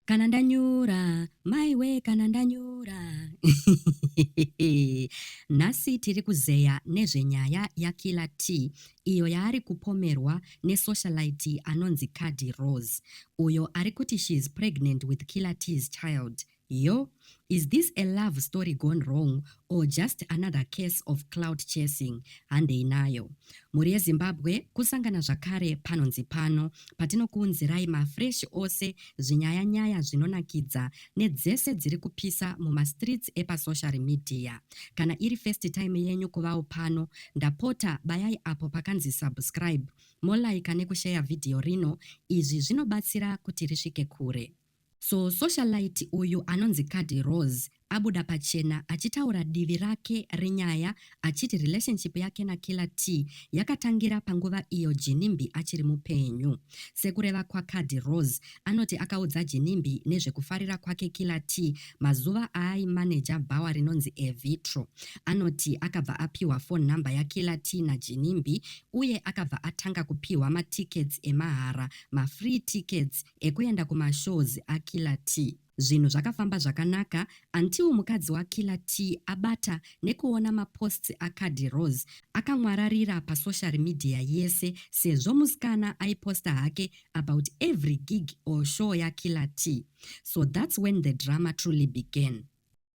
kana ndanyura maiwe kana ndanyura nhasi tiri kuzeya nezvenyaya yakiller t iyo yaari kupomerwa nesocialite anonzi cadi rose uyo ari kuti she is pregnant with killer t's child yo Is this a love story gone wrong or just another case of cloud chasing? Handei nayo. Mhuri yeZimbabwe kusangana zvakare panonzi pano patinokuunzirai mafresh ose zvinyaya nyaya zvinonakidza nedzese dziri kupisa mumastreets epasocial media. Kana iri first time yenyu kuvawo pano, ndapota bayai apo pakanzi subscribe, molaika nekusheya vhidhiyo rino, izvi zvinobatsira kuti risvike kure. So socialite uyu anonzi Cuddy Rose abuda pachena achitaura divi rake renyaya achiti relationship yake naKiller Tee yakatangira panguva iyo Ginimbi achiri mupenyu. Sekureva kwaCuddy Rose, anoti akaudza Ginimbi nezvekufarira kwake Killer Tee mazuva aaimaneja bhawa rinonzi Evitro. Anoti akabva apiwa phone number yaKiller Tee naGinimbi uye akabva atanga kupiwa matickets emahara, mafree tickets, Ekuenda kuma shows a Killer Tee. Zvinhu zvakafamba zvakanaka until mukadzi wa Killer Tee abata nekuona ma posts a Khadhi Rose akamwararira pa social media yese sezvo musikana aiposta hake about every gig or show ya Killer Tee. So that's when the drama truly began.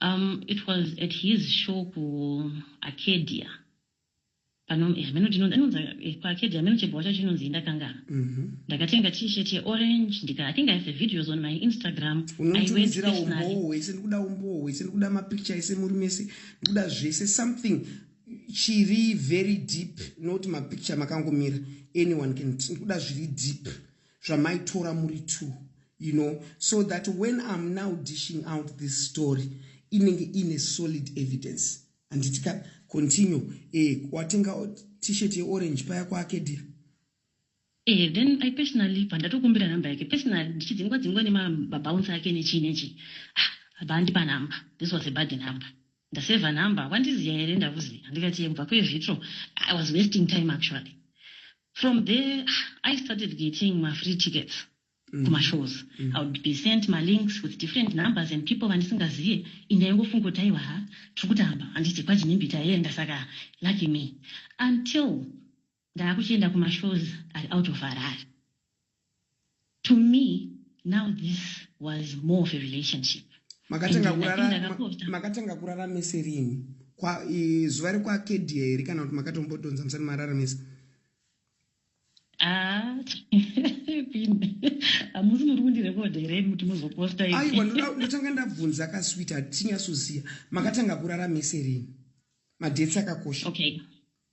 Um it was at his show ku Arcadia. Pano eh, hameno tinonzi anonzi eh, ku Arcadia hameno chibhowa chacho chinonzi ndakangana. Mhm. Ndakatenga t-shirt ye orange ndika I think I have the videos on my Instagram. I went unondiudzira personally. umbowo hwese ndikuda umbowo hwese ndikuda mapicture ese muri mese ndikuda zvese something chiri very deep not mapicture makangomira anyone can ndikuda zviri deep zvamaitora muri two you know so that when im now dishing out this story inenge ine solid evidence anditika continue eh, watenga t-shirt yeorange paya kuakedia Eh, then i personally bva ndatokumbira number yake personally ndichidzingwa dzingwa nemababounce ake nechii nechii ah, bva andipa number this was a bad number Ndaseva number wandiziya here ndakuziya ndikati yebva kwe vitro I was wasting time actually from there I started getting ma free tickets mm. kuma shows mm. I would be sent ma links with different numbers and people vandisingaziye inda yangofunga kuti aiwa ha tiri kutamba handiti kwajinimbi taienda saka lucky me until Ndaakuchienda kumashows ari out of Harare. To me now this was more of a relationship. Makatanga kurara, makatanga kurara mese rini? Kwa e, zuva rekwakedia here kana kuti makatombotonza musati mararamisa? Ah, hamusi muri kundirekodha here kuti muzoposta i aiwa ndotanga ndabvunza kaswita tinyasoziva makatanga kurara mese rini madheti akakosha okay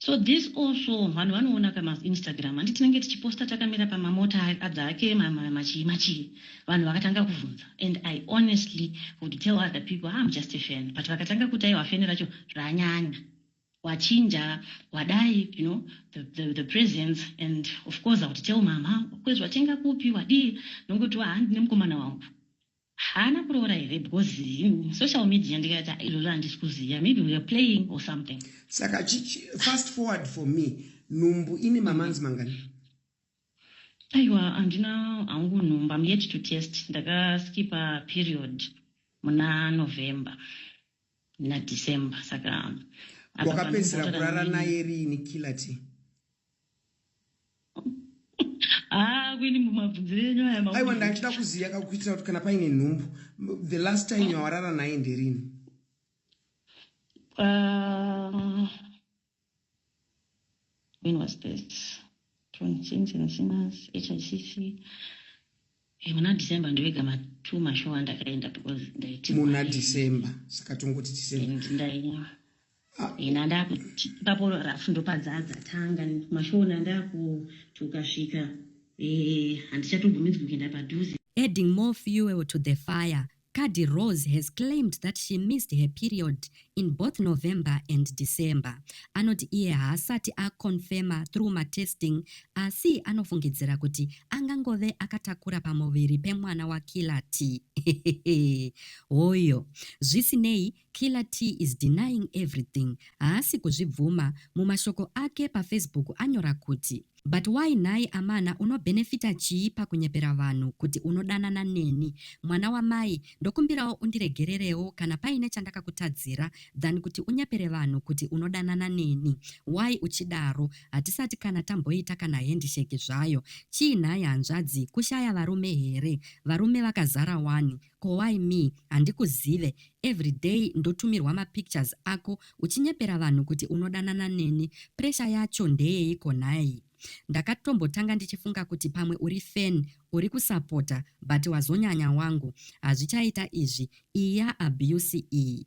So this also vanhu vanoona pama Instagram handi tinenge tichiposta takamira pama mota adzake machii machii vanhu vakatanga kuvhunza and I honestly would tell other people ah, I'm just a fan but vakatanga kuti aiwa fan racho ranyanya wachinja wadai you know the, the, the presence and of course I would tell mama kwezvatenga kupi wadii nongoti handine mukomana wangu Haana kuroora here because him social media ndikati ah izvozvo handisi kuziva maybe we are playing or something. Saka fast forward for me nhumbu ine mamanzi mangani? Aiwa handina hangu nhumbu I'm yet to test ndakaskipa period muna November na December saka wakapedzisira kurara naye riini killer tea? Ah, kwini mumabvunzire enyu aya maudzwa. aiwa ndandida kuziva ka kuitira kuti kana paine nhumbu m- the last time yawarara naye nderini Ah, when was this? From James and Sinners, HICC. Eh, muna December ndoega ma two mashow andakaenda because ndaiti muna December saka tongoti December and ndaiva ah. ina ndakuti ipapo rafu ndopadzadza tanga mashow na ndakuti ukasvika eh handichatobvumidzwi kuenda padhuze adding more fuel to the fire Kadhi Rose has claimed that she missed her period in both November and December. Anoti iye haasati aconfirma through matesting asi anofungidzira kuti angangove akatakura pamuviri pemwana waKiller Tee. Hehehe. Hoyo. Zvisinei, Killer T is denying everything haasi kuzvibvuma, mumashoko ake pafacebook anyora kuti, But why nhai amana unobenefita chii pakunyepera vanhu kuti unodanana neni? Mwana wamai, ndokumbirawo undiregererewo kana paine chandakakutadzira than kuti unyepere vanhu kuti unodanana neni. Why uchidaro? Hatisati kana tamboita kana handshake zvayo. Chii nhai hanzvadzi, kushaya varume here? Varume vakazara wani. Ko why me handikuzive everyday ndotumirwa mapictures ako uchinyepera vanhu kuti unodanana neni pressure yacho ndeyeiko nhai ndakatombotanga ndichifunga kuti pamwe uri fan uri kusapota but wazonyanya wangu hazvichaita izvi iya abuse iyi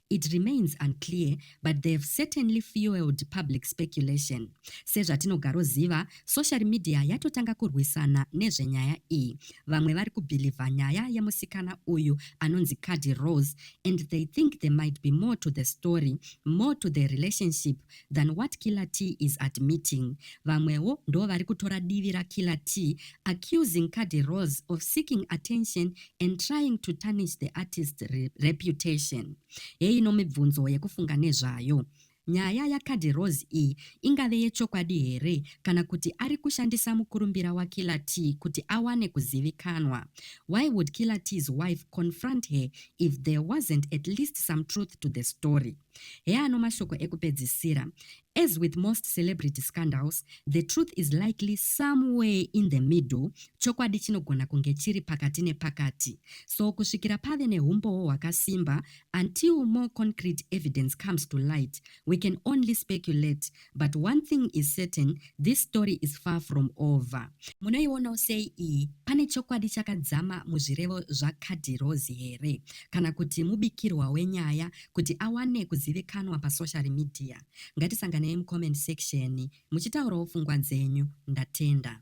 It remains unclear but they have certainly fueled public speculation. Sezvatinogaroziva, social media yatotanga kurwisana nezvenyaya iyi. Vamwe vari kubhilivha nyaya yemusikana uyu anonzi Cadi Rose and they think there might be more to the story, more to the relationship than what Killer T is admitting. Vamwewo ndovari kutora divi raKiller T accusing Khadi Roz of seeking attention and trying to tarnish the artist's reputation. Heino mibvunzo yekufunga nezvayo. Nyaya yaKhadi Roz iyi ingave yechokwadi here kana kuti ari kushandisa mukurumbira waKiller T kuti awane kuzivikanwa? Why would Killer T's wife confront her if there wasn't at least some truth to the story? Heano mashoko ekupedzisira. As with most celebrity scandals, the truth is likely somewhere in the middle, chokwadi chinogona kunge chiri pakati nepakati. So kusvikira pave nehumbowo hwakasimba, until more concrete evidence comes to light, we can only speculate but one thing is certain this story is far from over. Munoionawo sei iyi? Pane chokwadi chakadzama muzvirevo zvaKadhirozi here? Kana kuti mubikirwa wenyaya kuti awane kuzivikanwa pasocial media? Ngatisanganei mucomment section muchitaurawo pfungwa dzenyu. Ndatenda.